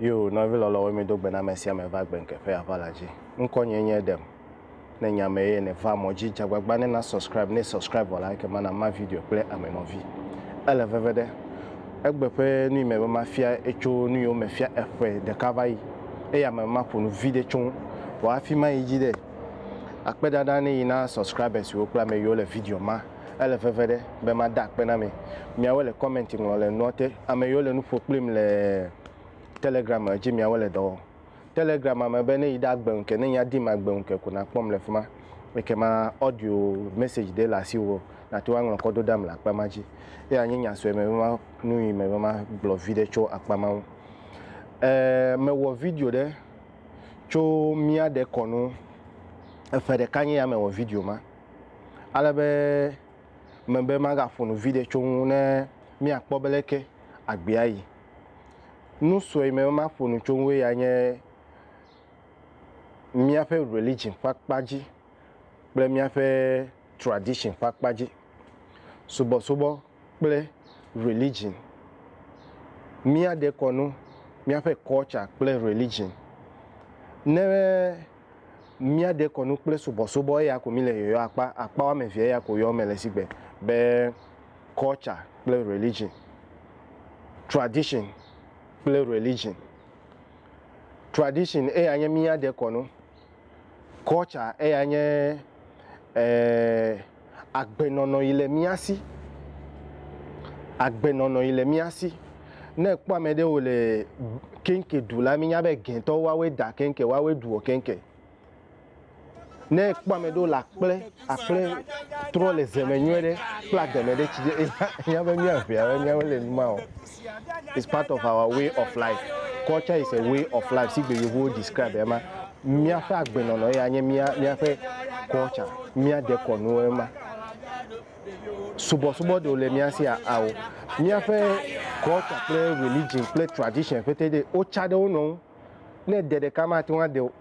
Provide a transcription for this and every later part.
Yo nɔvi lɔlɔ̃woe mido gbe na ame sia ame va gbenke ƒe aʋala dzi. Ŋkɔnyee nye Edem. Ne nye ame eye nèvaa mɔ dzi, dze agbagba ne na subscribe, ne subscribe vɔ la, ekema na ma video kple ame nɔvi. Ele veve ɖe. Egbe ƒe nui me be mafia etso nu yiwo mefia eƒe ɖeka va yi eye ame maƒo nu viɖe tso ŋu. Vɔ hafi mayi dzi ɖe, akpe ɖaɖa ne yi na subscribers siwo kple ame yiwo le video ma. Ele veve ɖe be mada akpe na mi. Miawo le comment ŋlɔ le nua te. Ame yiwo le nu ƒo kplim le Telegram dzi miawo le dɔ wɔm. Telegram me be ne yi ɖe agbe ŋu ke ne ya dim agbe ŋu ke ko nakpɔm le fima. Ekema audio message ɖe le asiwò nate ŋu aŋlɔ kɔ ɖo ɖam le akpa ma dzi. Eya nye nya sue me be ma nu yi me be ma gblɔ vi ɖe tso akpa ma ŋu. E me wɔ video ɖe tso mia ɖe kɔnu. Eƒe ɖeka nye ya me wɔ video ma. ale be mebe magaƒo nu viɖe tso ŋu ne míakpɔ be leke agbee ayi. Nu sue yi mebe maƒo nu tso ŋue ya nye míaƒe religion ƒe akpa dzi kple míaƒe tradition ƒe akpa dzi. Subɔsubɔ kple religion, míaɖe kɔ nu míaƒe culture kple religion. Ne Míaɖe kɔnu kple subɔsubɔ eya ko míle yɔyɔ akpa akpa woame evea ya ko yɔ mele sigbe be culture kple religion, tradition kple religion. Tradition eya nye míaɖe kɔnu, culture eya nye eh, Agbenɔnɔ yi le mía si. Agbenɔnɔ yi le mía si. Ne èkpɔ ame ɖe wòle keŋke ɖu la, mínya be gɛtɔwo woawoe da keŋke, woawoe ɖuɔ keŋke. Ne èkpɔ ame ɖewo le akple, akple trɔ le ze me nyuie ɖe kple ageme ɖe, tsi ɖe, ènya be míaŋea, míawo le numa o. It's part of our way of life. Culture is a way of life. Si gbe yevuwo describe ema. Míaƒe agbenɔnɔ ye anye mía míaƒe culture. Mía dekɔnu ema. Subɔsubɔ ɖewo le mía si ao. Míaƒe culture kple religion kple tradition ƒete ɖe wotsa ɖe wo nɔ ŋu. Ne de ɖeka mate ŋu ade o.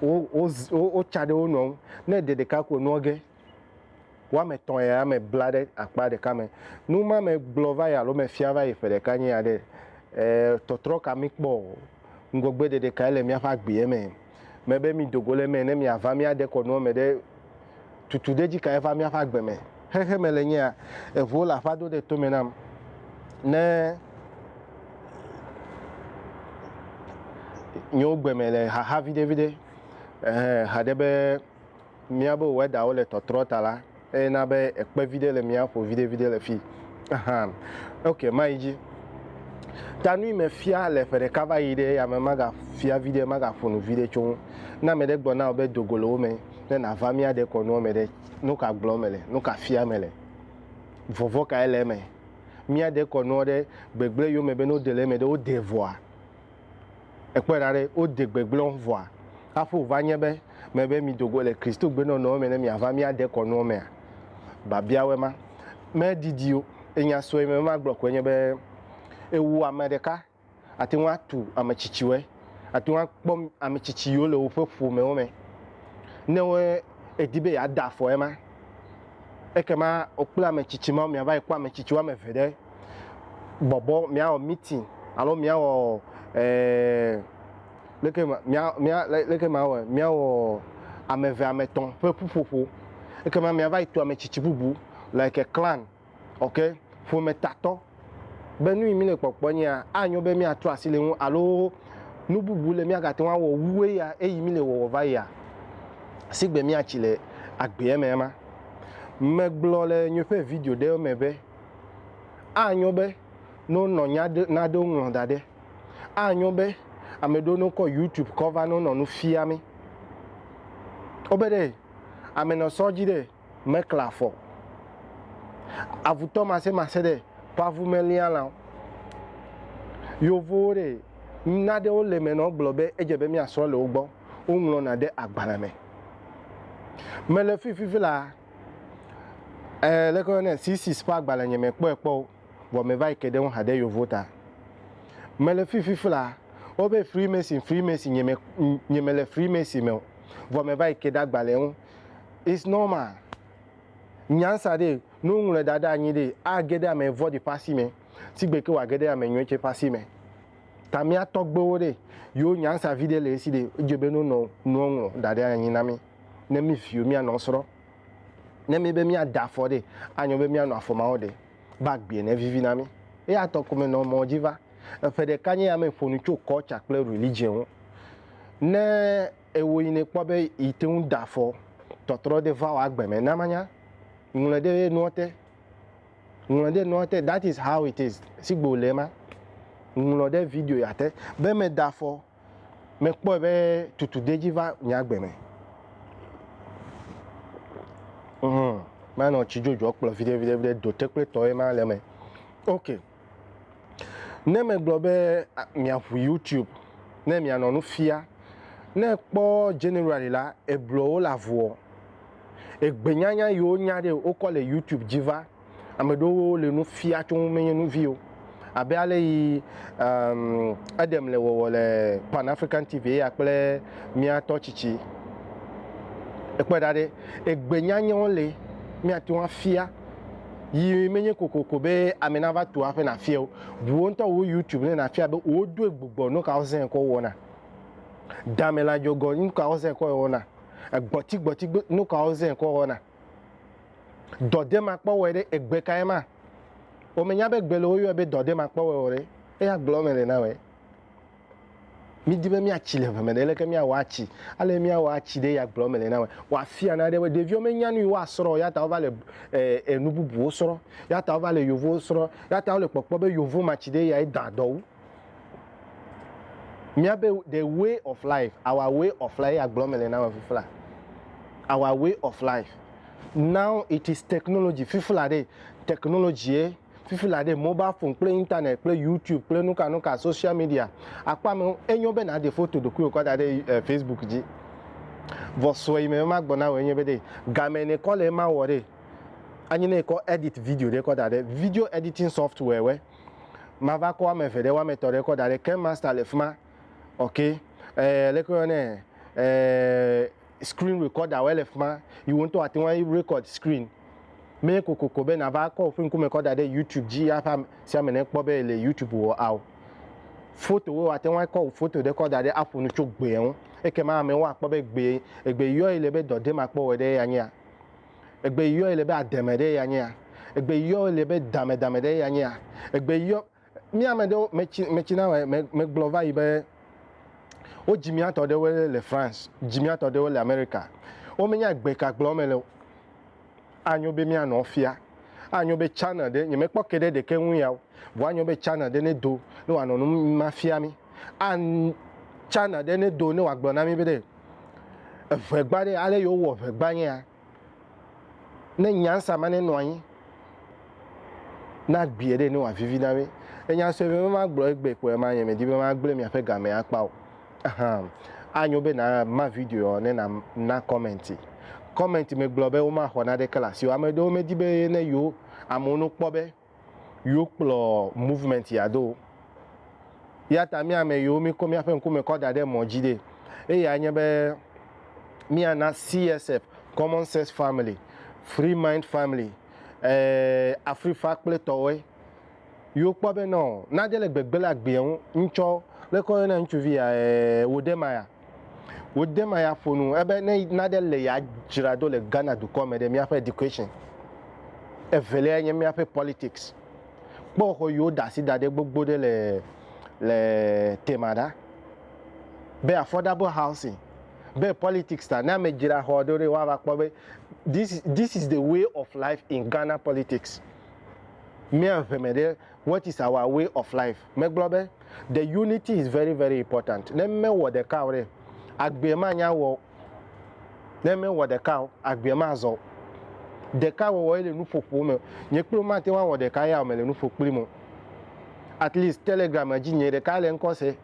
Wo wo wotsa ɖe wo nɔ ŋu. Ne de ɖeka ko nua ge. woame etɔ̃ ya me bla ɖe akpa ɖeka me. Nu ma me gblɔ va yi alo me fia va yi ƒe ɖeka nye ya ɖe, ɛɛ, tɔtrɔ ka mi kpɔ o? Ŋgɔgbe ɖeɖe kae le miaƒe agbea me? Me be mi dogo le eme ne mia va mia ɖe kɔ nua me ɖe, tutu ɖe dzi kae va miaƒe agbe me? Xexe me le nye ya, eŋuwo le aƒa do ɖe tome nam ne nyewo gbe me le xaxa viɖe viɖe, ɛhɛ, haɖe be míabe wɛdawo le tɔtrɔ ta la, eye na be ekpe viɖe le mía ƒo viɖeviɖe le fii hã. Ok, mayi dzi. Ta nui mefia le ƒe ɖeka va yi ɖe yame magafia viɖe, magaƒo nu viɖe tso ŋu. Ne ame ɖe gblɔ na wò be do go le wo me ne nàva mía dekɔnua me ɖe, nu ka gblɔm mele? Nu ka fiam mele? Vɔvɔ̃ kae le eme? Mía dekɔnua ɖe gbegblẽ yome be ne wode le eme ɖe, wodee vɔa? Èkpɔe ɖa ɖe, wode gbegblẽ vɔa, hafi wòva nye be mebe mido go le Kristogbenɔnɔwo me ne miava mía dekɔnuwo mea? Biabiawoe ma. Medidi o. Nya sue mele be magblɔ koe nye be, Ewu ame ɖeka ate ŋu atu ame tsitsiwoe. Àte ŋu akpɔ ame tsitsi yiwo le woƒe ƒomewo me ne èdi be yeada afɔ ema. Ekema wò kple ame tsitsi mawo miava yi kpɔ ame tsitsi woame eve ɖe. bɔbɔ, mìawɔ meeting alo mìawɔ leke ma, mìa, mìa, leke mawɔɛ, mìawɔ ame eve, ame etɔ̃ ƒe ƒuƒoƒo. Ekema mìava yi to ame tsitsi bubu, like clan, ok, ƒometatɔ be nu yi mí le kpɔkpɔ nye ya, anyo be mìatrɔ asi le eŋu alo nu bubu le mìagate ŋu awɔ wu eya eyi mí le wɔwɔ va yia, si gbe mìatsi le agbeɛ mea ma. Megblɔ le nyeƒe video ɖewo me be. Anyo be ne wonɔ nya ɖe nane woŋlɔ da ɖe. Anyo be ame ɖewo ne wokɔ YouTube kɔ va ne wonɔ nu fia mi. Wobe ɖe ame nɔ sɔ dzi ɖe mekle afɔ o. Avutɔ masemaxe ɖe ƒe avu melia lão. Yovowo ɖe nane wo le me nɔ gblɔ be edze be miasrɔ le wo gbɔ. Woŋlɔna ɖe agbalẽ me. Mele fififi la. Eh, leke woyɔnɛ? Thesis ƒe agbalẽ nye mekpɔe kpɔ o, vɔ meva yi ke ɖe eŋu haɖe yovo ta. Mele fifi fla, wobe Freemason, Freemason, nye me, nye mele Freemason me o, vɔ meva yi ke ɖe agbalẽ ŋu. It's normal. Nyansa ɖee, ne woŋlɔe da ɖe anyi ɖee, age ɖe ame vɔ̃ɖi ƒe asi me, sigbe ke wòage ɖe ame nyui tsɛ ƒe asi me. Ta mía tɔgbewo ɖee, yewo nyansa viɖe le esi ɖee, edze be ne wonɔ nua ŋlɔ da ɖe anyi na mí. ne mí viwo míanɔ esrɔ̃. Ne míebe míada afɔ ɖee, anyo be míanɔ afɔ ma wo ɖe be agbee ne vivi na mí. Eya tɔ ko menɔ mɔ dzi va. Eƒe ɖeka nye ya me ƒo nu tso culture kple religion ŋu. Ne ewɔ yi nèkpɔ be yi te ŋu da afɔ tɔtrɔ ɖe va wò agbe me, na manya. Ŋlɔe ɖe nua te. Ŋlɔe ɖe nua te. That is how it is. Sigbe wòle ema. Ŋlɔ ɖe video ya te be meda afɔ. mekpɔe be tutu dedzi va nye agbe me. Hum, manɔ tsi dzodzɔ kplɔ viɖe viɖe viɖe dote kple tɔ ye ma le eme. Ok. Ne megblɔ be miaƒu YouTube ne mianɔ nu fia, ne ekpɔ generally la, ebluɔ wo le avuɔ, egbenyanya yiwo nya ɖe wokɔ le YouTube dzi va. Ame ɖewo le nu fia tso ŋu menye nu vi o. Abe ale yi um, Edem le wɔwɔ le Pan African TV eya kple mía tɔ tsitsi. Ekpɔe ɖa ɖe, egbe nyanyɛwo le míate ŋu afia yi menye kokoko be ame nava tu aƒe nafia o. Ʋuwo ŋutɔ wo YouTube ne nafia be wodoe gbugbɔ nu kawo zẽ kɔ wɔna. Damelã dzɔgɔ nu kawo zẽ kɔ wɔna. Egbɔtigbɔti nu kawo zẽ kɔ wɔna. dɔdemakpɔwɔe ɖe egbe kae ma? Womenya be gbe le woyɔe be dɔdemakpɔwɔe o ɖe, eya gblɔm mele na wɔe. Mídi be míatsi le ʋe me ɖe, leke míawɔ atsi? Ale míawɔ atsi ɖe ya gblɔm mele na wɔe. Woafia na ɖe be ɖeviwo menya nu yi woasrɔ̃ o ya ta wova le enu bubuwo srɔ̃, ya ta wova le yovowo srɔ̃, ya ta wole kpɔkpɔ be yovomatsi ɖe yae dã dɔ wu. Mía be the way of life, our way of life, eya gblɔm mele na me fifla. Our way of life. Now it is technology, fifla ɖe technology ye, fifla ɖe mobile phone kple internet kple YouTube kple nuka nuka social media. Akpɔ ame enyo be nàɖe foto ɖokuiwò kɔ da ɖe eh, Facebook dzi. Vɔ sɔ yi me be magblɔ na wò enye be ɖe game ne kɔ le ema wɔ ɖe anyi ne kɔ edit video ɖe kɔ da ɖe video editing software wɛ. Mava kɔ ame eve ɖe woame etɔ ɖe kɔ daɖe ke master le fima ok eeh leke woyɔ nɛ eeh screen recorder woe le fima yiwo ŋtɔ ateŋu a record screen mee kokoko be nava kɔ woƒe ŋkume kɔ daɖe youtube dzi ya ƒe amesiame ne kpɔ be ele youtube wɔ ao foto woe ateŋu a kɔ foto ɖe kɔ daɖe aƒo nu tso gbea ŋu ekema amewo akpɔ be gbe egbe yɔe le be dɔ ɖem akpɔ wɔ ɖe eya nyea. Egbe yɔe le be ademe ɖe ya nyea? Egbe yɔe le be damedame ɖe ya nyea? Egbe yɔ mi ame ɖewo metsi metsi na wɔ me megblɔ va yi be wodzi mia tɔ ɖewo le France, dzi mia tɔ ɖewo le America. Wo menya egbe ka gblɔ me le o. Anyo be mia nɔ fia. Anyo be channel ɖe nye mekpɔ ke ɖe ɖeke ŋu ya o. Vɔ anyo be channel ɖe ne do ne wa nɔ nu ma fia mi. An channel ɖe ne do ne wa gblɔ na mi be ɖe. Eŋegba ɖe, ale yio wowɔ ŋegba nyea, ne nyansa ma ne nɔ anyi, na gbiɛ ɖe ne wòa vivi na mi. Le nya sue be ma gblɔ egbe kpoe ma nye me di be ma gblɔe miaƒe game akpa o. Ahan. Anyo be na ma videoa ne na na comment. Comment me gblɔ be woma xɔ na ɖeke le asi o. Ame ɖewo me di be ne yio amewo no kpɔ be. Yo kplɔ movement ya do. Eya ta mía ame yiwo mí kɔ míaƒe ŋkume kɔ da ɖe mɔ dzi ɖe, eyae nye be mía na CSF, Common Sense Family, Free Mind Family, e, Afrifa kple tɔwoe. Yo kpɔ be nɔ nane le gbegbe le agbeɛ ŋu, ŋtsɔ, leke wo yɔna ŋutsuvi ya, e, Wodemaya. Wode ma ya ƒonu ebe ne naɖe le ya dzra ɖo le Ghana dukɔ me ɖe miaƒe education. Evelia nye miaƒe politics. Kpɔ xɔ yiwo da asi da ɖe gbogbo ɖe le le tema ɖa. Be affordable housing, be politics ta ne ame dzra xɔ ɖo ɖe woava kpɔ be this is this is the way of life in Ghana politics. Mia ʋe me ɖe what is our way of life. Megblɔ be, The unity is very, very important. Ne mewɔ ɖeka o ɖe, agbee manya wɔ o. Ne mewɔ ɖeka o, agbee mazɔ o. Ɖeka wɔwɔ ye le nuƒoƒo me. Nye kple wò mate ŋu awɔ ɖeka ya o, mele nu ƒo kplim o. At least Telegram dzi, nye ɖeka le ŋkɔ se.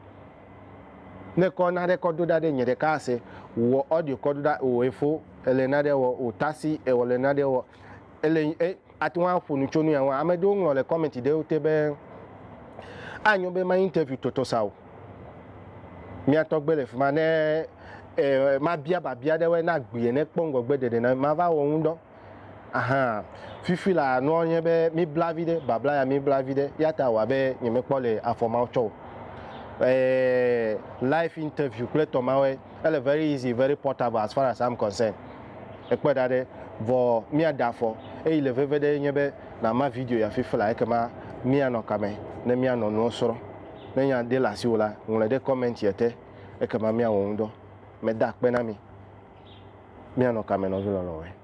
Ne kɔ naɖe kɔ do ɖa ɖe, nye ɖeka ase. Wò audio kɔ do ɖa, wò efo, èle naɖe wɔ, wò taxi, èwɔ le naɖe wɔ, èle, e, Ate ŋu aƒo nu tso nu ya ŋu. Ame ɖewo ŋlɔ le kɔmɛnti ɖewo te be, Anyo be ma interview tɔtɔ sa o. Mía tɔgbe le fi ma. Ne e, mabia biabia ɖe wɔe, ne agbee ene, kpɔ ŋgɔgbe ɖeɖe na mava wɔ ŋudɔ. Aha. Fifi la, nua nye be mibla viɖe, babla ya mibla viɖe. Eya ta wɔ abe nyemekpɔ le afɔ ma tsɔ o. E, live interview kple tɔ ma wɔe. ele very easy very portable as far as I'm concerned ekpe ɖa ɖe vɔ mía da afɔ eyi le veve ɖe enye be na ma video ya fifi la ekema mía nɔ kame ne mía nɔ nuɔ srɔ ne nya de le asiwo la ŋlɔe ɖe comment yɛ te ekema mía wɔ ŋudɔ me da akpe na mi mía nɔ kame nɔvi lɔlɔwɔe.